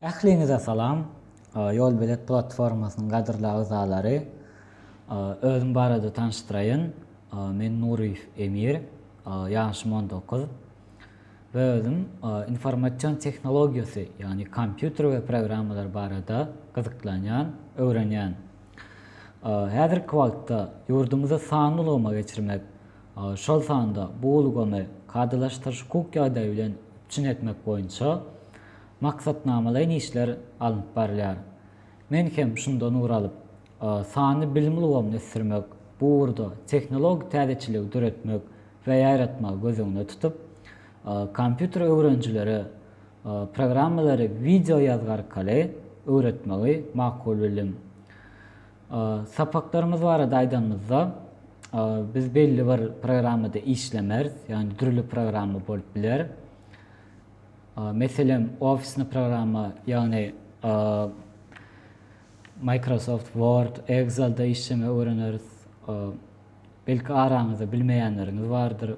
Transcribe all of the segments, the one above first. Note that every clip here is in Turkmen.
Ähliňize salam! Ýolbilet platformasynyň gadyrly agzalary! Özüm barada tanyşdyraýyn. Men Nuryýew Emir. Ýaşym on dokuz. We özüm informasion tehnologiýasy, ýagny kompýuter we programmalar barada gyzyklanýan, öwrenýän. Häzirki wagtda ýurdumyzy sanly ulgama geçirmek, şol sanda bu ulgamy kadalaşdyryş-hukuk ýagdaýy bilen üpjün etmek boýunça maksatnamalaýyn işler alnyp barylýar. Men hem şundan ugur alyp, sanly bilim ulgamyny ösdürmek, bu ugurda tehnologik täzeçiligi döretmek we ýaýratmagy göz öňünde tutup, kompýuter öwrenijilere programmalary wideo ýazgy arkaly öwretmegi makul bildim. Sapaklarymyz barada aýdanymyzda, biz belli bir programmada işlemeris, ýagny dürli programma bolup biler. Meselem, ofisni programma, ýagny Microsoft Word, Excel-de işlemeyi öwreneris. Belki araňyzda bilmeýänleriňiz bardyr,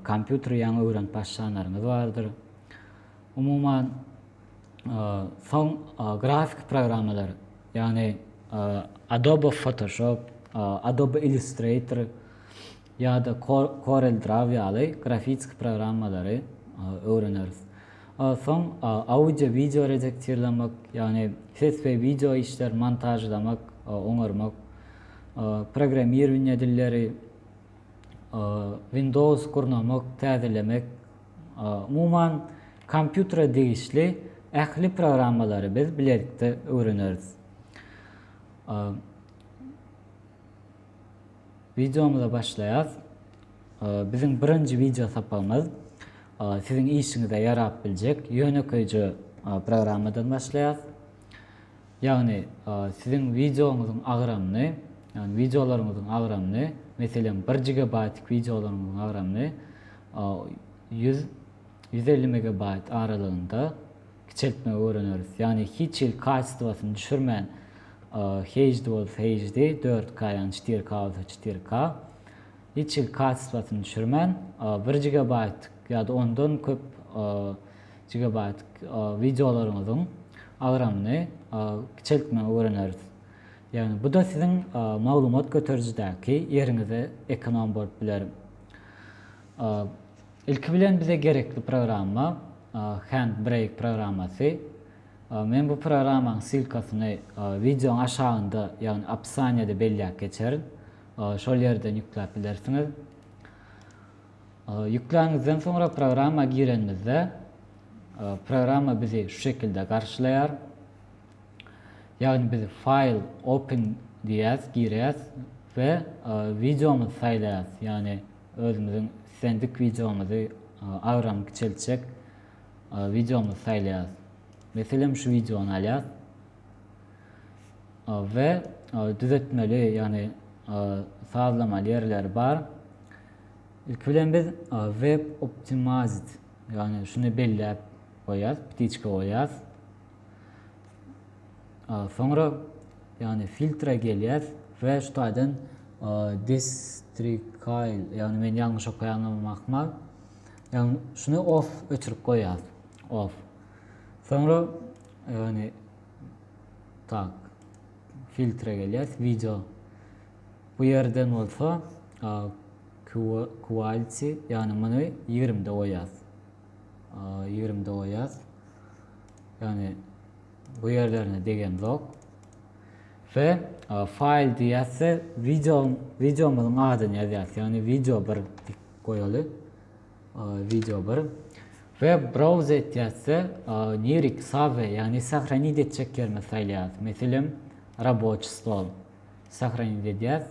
kompýuteri ýaňy öwrenip başlanlaryňyz bardyr. Umuman, soň grafiki programmalar, ýagny Adobe Photoshop, Adobe Illustrator ýa-da Corel Draw ýaly grafiki programmalary öwreneris. Soň audio-wideo redaktirlemek, ýagny ses we wideo işleri montažlamak, oňarmak, programmirowaniýe dilleri, Windows gurnamak, täzelemek, Umuman, kompýutere degişli ähli programmalary biz bilelikde öwreneris. Wideomyza başlaýas. Biziň birinji wideo sapagymyz siziň işiňize ýarap biljek ýönekeýje programmadan başlaýas. Ýagny, siziň wideoňyzyň agramyny, ýagny wideolaryňyzyň agramyny, meselem, bir gigabaýtlyk wideolaryňyzyň agramyny ýüz, ýüz elli megabaýt aralygynda kiçeltmegi öwreneris. Ýagny hiç hili kasitowasyny düşürmän, HD bolsa HD, dört K, ýagny çetir K bolsa çetir K, hiç hili kasitowasyny düşürmän, bir gigabaýtlyk ýa-da ondan köp gigabaýt wideolaryňyzyň agramyny kiçeltmegi öwreneris. Ýagny bu-da siziň maglumat göterijidäki ýeriňize ekonom bolup biler. Ilki bilen bize gerekli programma Handbrake programmasy. Men bu programmanyň ssilkasyny wideoň aşagynda, ýagny opisaniýada belläp geçerin. Şol ýerden ýükläp bilersiňiz. Ýükläňizden soňra programma girenimizde, programma bizi şu şekilde garşylaýar. Ýagny biz File, Open diýýäs, girýäs we wideomyzy saýlaýas. Ýagny özümiziň islendik wideomyzy, agramy kiçeltjek wideomyzy saýlaýas. Meselem, şu wideony alýas we düzetmeli, ýagny sazlamaly ýerleri bar. Ilki bilen biz web optimized ýagny şuny belläp goýýas, ptiçka goýýas. Soňra ýagny filtra gelýäs we şu taýdan distrikail ýagny men ýalňyş okaýanymam ahmal. Ýagny şuny off öçürip goýýas. Off. Soňra ýagny tak filtra gelýäs, wideo Bu ýerden bolsa Quality, ýagny muny ýigrimide goýýas. Ýigrimide goýýas. Ýagny bu ýerlerine degemzok. We file diýýäs we wideo, wideomyzyň adyny ýazýas. Ýagny wideo 1 diýip goýaly. Wideo 1. We browse etýäs we niriki save, ýagny sahranit etjek ýerimizi saýlaýas. Meselem, raboçi stol. Sahranit edýäs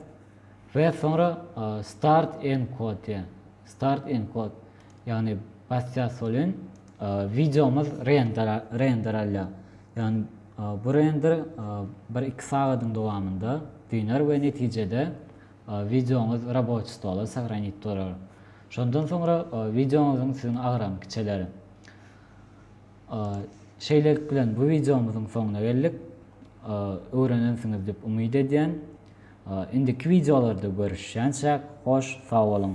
we soňra start enkod diýýän. Start enkod. Ýagny basýas welin wideomyz render render alýar. Ýagny bu render bir iki sagadyň dowamynda düner we netijede wideoňyz raboçi stola sahranit bolar. Şondan soňra wideoňyzyň siziň agramy kiçeler. Şeýlelik bilen bu wideomyzyň soňuna geldik. Öwrenensiňiz diýip umyt edýän. Indiki wideolarda görüşýänçäk hoş sag boluň.